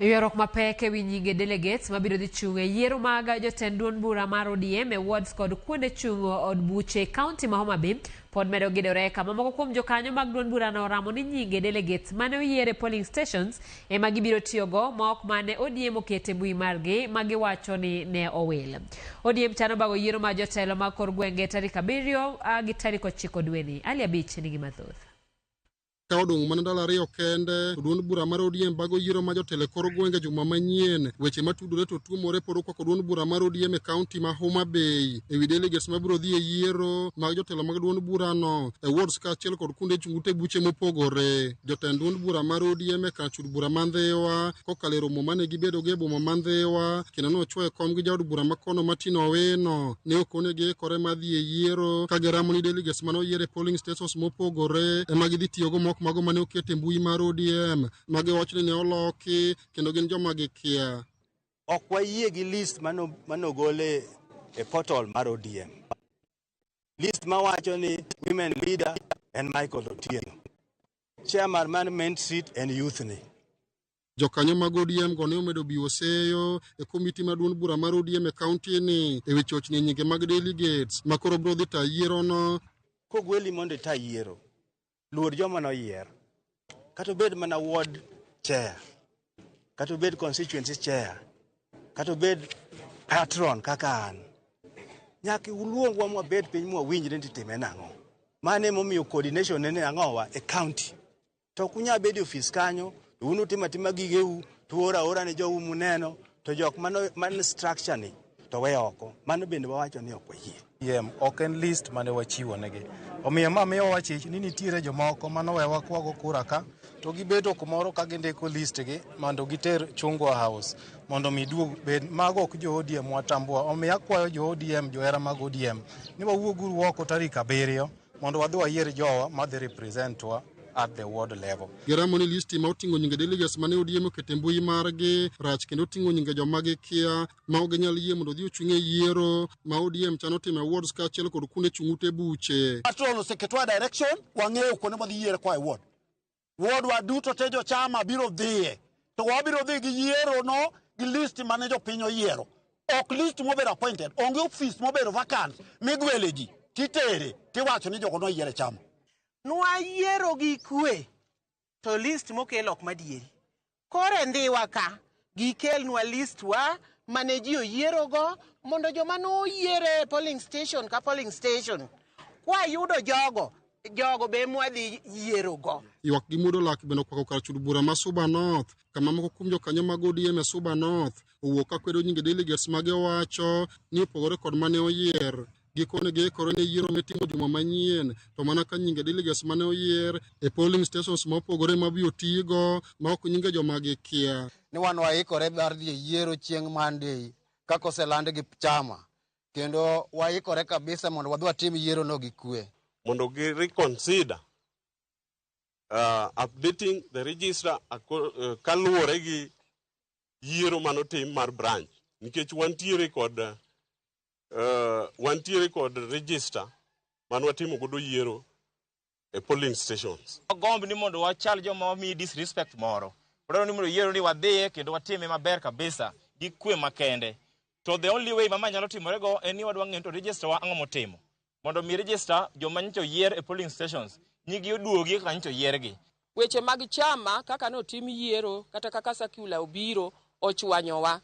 Ywaruok mapek ewi nyinge delegates mabiro dhi chung' e yiero mag jotend duond bura mar ODM e wards kod kuonde chung' od buche kaunti ma Homa Bay pod medo gidore kama moko kuom jokanyo mag duond burano oramo ni nyinge delegates mane oyier e polling stations ema gibiro tiyogo ma ok mane ODM okete mbui margi ma giwacho ni ne owil. ODM chano bago yiero mar jotelo mag kor gwenge tarik abiriyo ah, gi tarik ochiko dweni. Ali Abich nigi mathoth. Ka odong' mana ndalo ariyo kende to duond bura mar ODM bago yiero ma jotelo e kor gwenge juma manyien. Weche matudore to tuomore pod okwako duond bura mar ODM e kaunti ma Homa Bay e wi delegates ma biro dhi e yiero mag jotelo mag duond burano e wards kaachiel kod kuonde chung' ute buche mopogore. Jotend duond bura mar ODM e jaod bura ma Ndhiwa kokalo e romo mane gibedogo e boma ma Ndhiwa kendo nochwoyo kom gi jaod bura ma kono Martin Owino. Ne ok one giikore mar dhi e yiero ka giramo ni delegates mane oyier e polling stations mopogore ema gidhi tiyogo mok mago mane oket e mbui mar ODM ma giwach ni ne oloki kendo gin joma gikia. Ok wayie gi list mane ogol e portal mar ODM. List mawacho ni women leader en Michael Otieno. Chairman man main seat and youth ni. Jokanyo mag ODM go ne omedo biwo seyo e komiti maduong' bura mar ODM e kaunti ni e wi chochni nyinge mag delegates ma koro biro dhi tayo yierono. Kogweli mondo ita yiero, luor joma noyier. Kata obed mana ward chair, kata obed constituency chair kata obed patron kaka an nyaka uluongwa mwabed piny mwawinjre ni titime nang'o mano emomiyo coordination nene ang'owa e county to ok unyal bedo e ofis kanyo to un utim atima gigeu to uoro aora ne jou muneno to jok mano man structure ni to we oko mano bende wawacho ni ok wayie Yiem ok en list mane wachiwo negi. Omiyo ma miyo wachich ni nitiere jomoko manowewa kwago kura ka to gibedo kumoro ka gindiko listgi mondo giter Chungwa House mondo mi duog bed mago ok jo ODM watambua. Omiyo akwayo jo ODM johera mag ODM ni wawuog uru oko tarik abiriyo mondo wadhi wayier jowa madhi representwa at the ward level. Giramo ni listi ma oting'o nyinge delegates mane ODM oketo e mbui margi rach kendo oting'o nyinge joma gikia ma ok ginyal yie mondo odhi ochung' e yiero ma ODM chano timo e wards kaachiel kod kuonde chung' ute buche. Patrol oseketwa direction, wang'eyo kuonde mwadhi yiere kwa e ward. Wardwa duto te jo chama biro dhiye, to wabiro dhi gi yiero no gi list mane jopiny oyiero. Ok list mobedo appointed, onge ofis mobedo vacant migwele ji titere tiwacho ni jogo noyier e chama. Nwayiero gi kwe, to list mokel ok madieri. Koro e ndhiwa ka gikelnwa list wa mane ji oyierogo mondo joma noyiere e polling station ka polling station kwayudo jogo jogo be mwadhi yierogo. Ywak gi muodo lak bende okwako kar chud bura ma Suba North kama moko kuom jokanyo mag ODM e Suba North owuok ka kwedo nyinge delegates mage owacho ni opogore kod mane oyier. Gikone giikore ne yiero mitimo juma manyien, to mana ka nyinge delegates mane oyier e polling stations ma opogore ma biro tigo ma ok nyinge joma gikia. Ni wan waikore mar dhi e yiero chieng' Monday kaka oseland gi chama kendo waikore kabisa mondo wadhi watim yiero no gi kwe. mondo gi reconsider uh, updating the register ako- eh, kaluwore gi yiero manotim mar branch nikech wantiere kod eh, Uh, wantiere kod register man watimo godo yiero e polling stations. Wagomb ni mondo wachal joma wamiyi disrespect moro. Wadwaro ni mondo yiero ni wadhiye kendo watime maber kabisa gi kwe makende. To the only way mama nyalo timore go en ni wadwa ng'eyo to register wa ang'o motimo. Mondo mi register joma nyicho yier e polling stations nyigi oduogi kaka nyicho yiergi. Weche mag chama kaka notim yiero kata kaka sakula obiro ochwanyowa.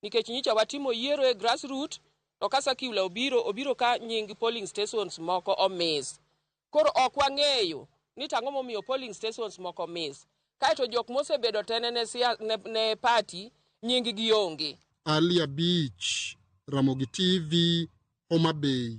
nikech nyicha watimo yiero e grassroot to ka circular obiro obiro ka nying polling stations moko omis. Koro ok wang'eyo ni to ang'o momiyo polling stations moko miss. Kaeto jok mosebedo tene ne, ne, ne party nying gi onge. Ali Abich, Ramogi TV, Homa Bay.